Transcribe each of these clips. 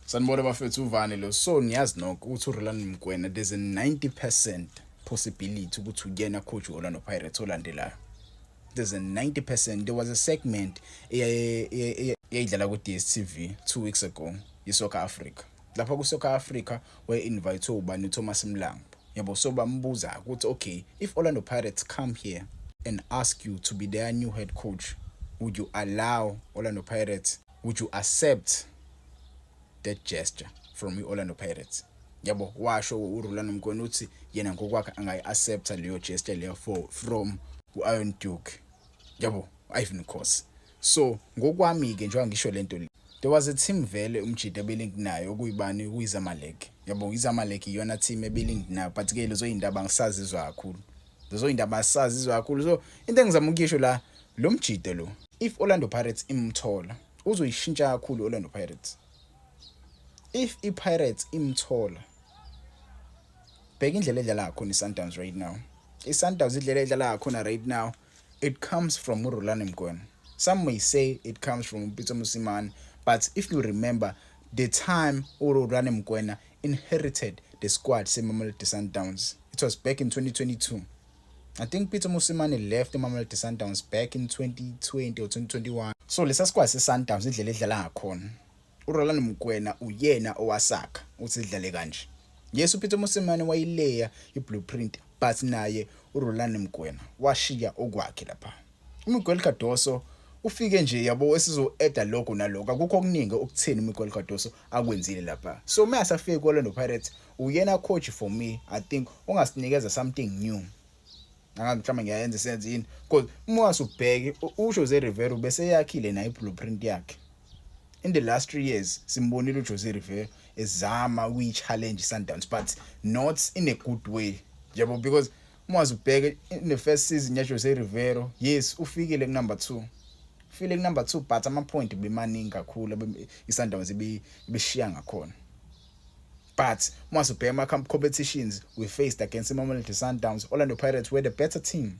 Sanibona bafethu uvani lo so ngiyazi nokho ukuthi uRolani Mkwena there's a 90% possibility ukuthi uyena coach Orlando Pirates olandelayo there's a 90% there was a segment eyayidlala ku DStv 2 weeks ago iSoccer Africa lapha kuSoccer Africa we invite ubani uThomas Mlambo yabo so bambuza ukuthi okay if Orlando Pirates come here and ask you to be their new head coach would you allow Orlando Pirates would you accept that gesture from i-orlando pirates yabo washo urulani mkweni uthi yena ngokwakhe angayi-accepta leyo gesture leyo for from u-iron duke yabo ivan cos so ngokwami-ke njengoba ngisho le nto le there was a team vele umjida ebelingi nayo okuyibani kuyizamalek yabo izamalek iyona team ebelingi nayo but-ke lezo yindaba angisazizwa kakhulu Lezo indaba asazizwa kakhulu. So into engizama ukuyisho la lo mjide lo if Orlando Pirates imthola uzoyishintsha kakhulu Orlando Pirates. If iPirates imthola bheka indlela edlala ngakhona iSundowns right now. ISundowns idlela edlala ngakhona right now it comes from uRulani Mgwena. Some may say it comes from Pitso Mosimane but if you remember the time uRulani Mgwena inherited the squad seMamelodi Sundowns. It was back in 2022. I think Peter Musimane left Mamelodi Sundowns back in 2020 or 2021. So lesa squad seSundowns indlela edlala ngakhona. URolando Mokwena uyena owasakha uthi idlale kanje. Yes uPeter Musimane wayileya iblueprint but naye uRolando Mokwena washiya okwakhe lapha. UMiguel Cardoso ufike nje yabo esizo-eda lokho nalokho akukho okuningi okutheni uMiguel Cardoso akwenzile lapha so uma asafike ku-Orlando Pirates uyena coach for me i think ongasinikeza something new angazi mhlawumbe ngiyayenza isenze yini because uma wasubheke ujose rivero beseyakhile nayo i-blueprint yakhe in the last three years simbonile ujose rivero ezama ukuyi-challenge i-sundowns but not in a good way yabo because Uma uzibheke in the first season yaJose Riveiro, yes ufikile kunumber 2. Ufile kunumber 2 but ama point bemaningi kakhulu iSundowns ibishiya ngakhona. But uma sibheka ama competitions we faced against Mamelodi Sundowns, Orlando Pirates were the better team.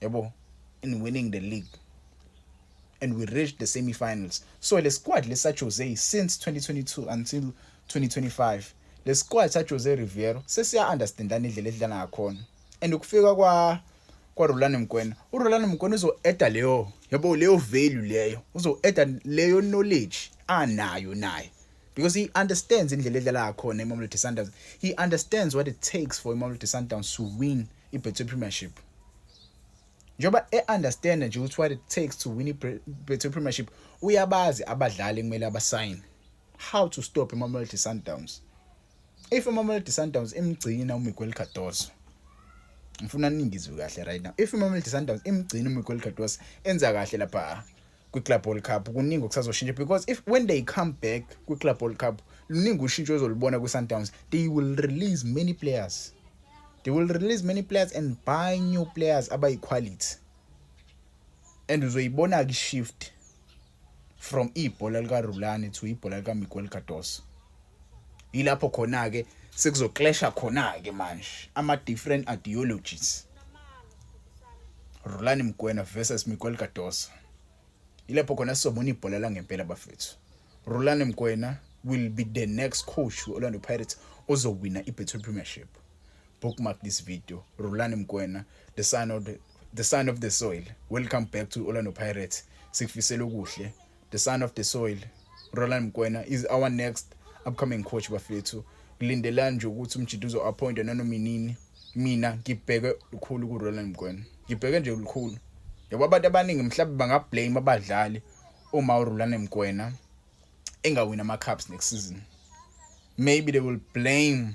yabo in winning the league and we reached the semi-finals so le squad lesa Jose since 2022 until 2025 le squad sa Jose Riviero sesiya understandana indlela edlala ngakhona and ukufika kwa kwa Rolani Mkwena u Rolani Mkwena uzo eda leyo yabo leyo value leyo uzo eda leyo knowledge anayo naye because he understands indlela edlala ngakhona iMamelodi Sundowns he understands what it takes for iMamelodi Sundowns to win iBetway Premiership njengoba e-understand nje ukuthi what it takes to win iBetway Premiership uyabazi abadlali kumele abasayine how to stop iMamelodi Sundowns if iMamelodi Sundowns imgcina uMiguel Cardoso ngifuna ningizwe kahle right now if iMamelodi Sundowns imgcina uMiguel Cardoso enza kahle lapha kwi-club world cup kuningi okusazoshintsha because if when they come back kwi-club world cup luningi ushintsho ezolubona kwi-sundowns they will release many players they will release many players and buy new players abayi-quality and uzoyibona-ke shift from ibhola likarulani to ibhola likamiguel cardoso yilapho khona-ke sekuzoklesha khona-ke manje ama-different ideologies rulani mgwena versus miguel cardoso yilapho khona sizobona ibhola langempela bafethu rulani mgwena will be the next coach we-orlando pirates ozowina i-betway premiership bookmark this video rulani mgwena the son of the, the son of the soil welcome back to orlando pirates sikufisela okuhle the son of the soil Roland Mkwena is our next upcoming coach bafethu kulindelani nje ukuthi umjita uzo-appointwa nanoma inini mina ngibheke lukhulu ku-roland mkwena ngibheke nje lukhulu yabo abantu abaningi mhlawumbe bangablame abadlali uma urulane mkwena engawina ama-cups next season maybe they will blame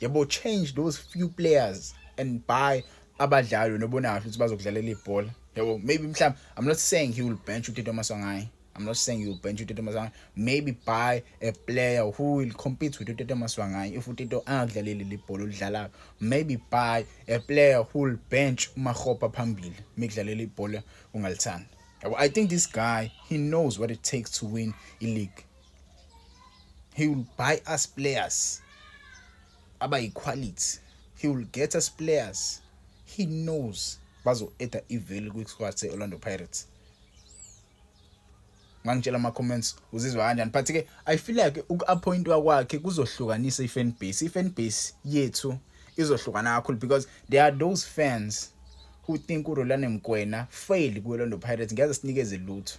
yebo change those few players and buy abadlali nobonayo ukuthi bazokudlalela ibhola yebo maybe mhlawumbe i'm not saying he will bench utito masangayi I'm not saying you bench uTito Maswanganyi. Maybe buy a player who will compete with uTito Maswanganyi if uTito angadlaleli libhola olidlalayo. Maybe buy a player who will bench uMakgopa phambili mikudlalela ibhola ungalithanda. I think this guy he knows what it takes to win i-league. he will buy us players abayiquality he will get us players he knows bazo-eda ivalue kwi-squad se-orlando pirates ngangitshela ama-comments uzizwa kanjani but ke i feel like uku-appointwa kwakhe kuzohlukanisa i-fan base i-fan base yethu izohlukana kakhulu because there are those fans who think urolane mkwena fail kwi-orlando pirates ngeze sinikeze lutho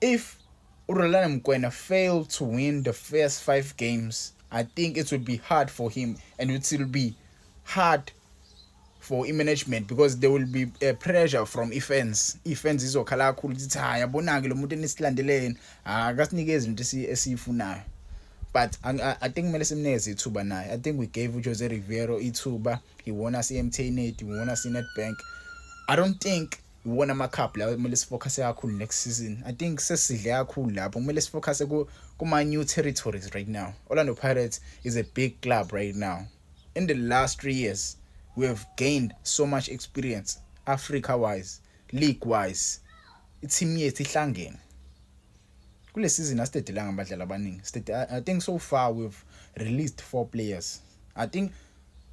If uRolani Mokwena failed to win the first five games, I think it would be hard for him and it will be hard for i-management because there will be a pressure from i-fans i-fans izokhala kakhulu ukuthi cha yabona-ke lo muntu enisilandeleni akasinikezi into esiyifunayo but I, I, I think kumele simnikeze ithuba naye i think we gave ujose riviero ithuba he won us i-mtnet he won us i-netbank i don't think iwona ama-cup lawo kumele sifocusse kakhulu next season i think sesidle kakhulu lapho kumele sifocusse kuma-new territories right now orlando pirates is a big club right now in the last three years we have gained so much experience africa wise league wise ithimu yethu ihlangene kule season asitedelanga abadlali abaningi i think so far we've released four players i think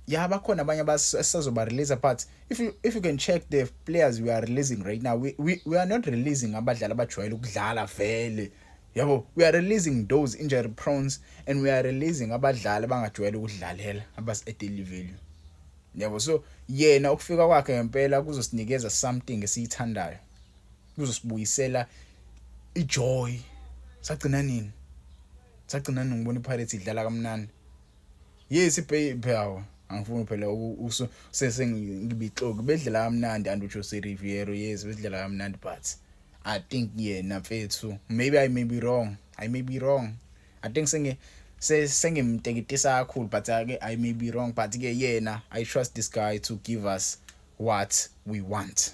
yeah bakhona abanye abasazoba release but if you, if you can check the players we are releasing right now we, we, we are not releasing abadlali abajwayele ukudlala vele yabo we are releasing those injury prones and we are releasing abadlali abangajwayele ukudlalela abasi-edaily value yabo so yena ukufika kwakhe ngempela kuzosinikeza something esiyithandayo luzosibuyisela ijoy sagcina nini sagcina nini ngibona iPirates idlala kamnandi yes ibhawo angifuni phela sesengibixoki bedlala kamnandi and uJose Riviero yes bedlala kamnandi but I think yena mfethu maybe I may be wrong I may be wrong I think senge sengimteketisa kakhulu but ake I may be wrong but ke yena I trust this guy to give us what we want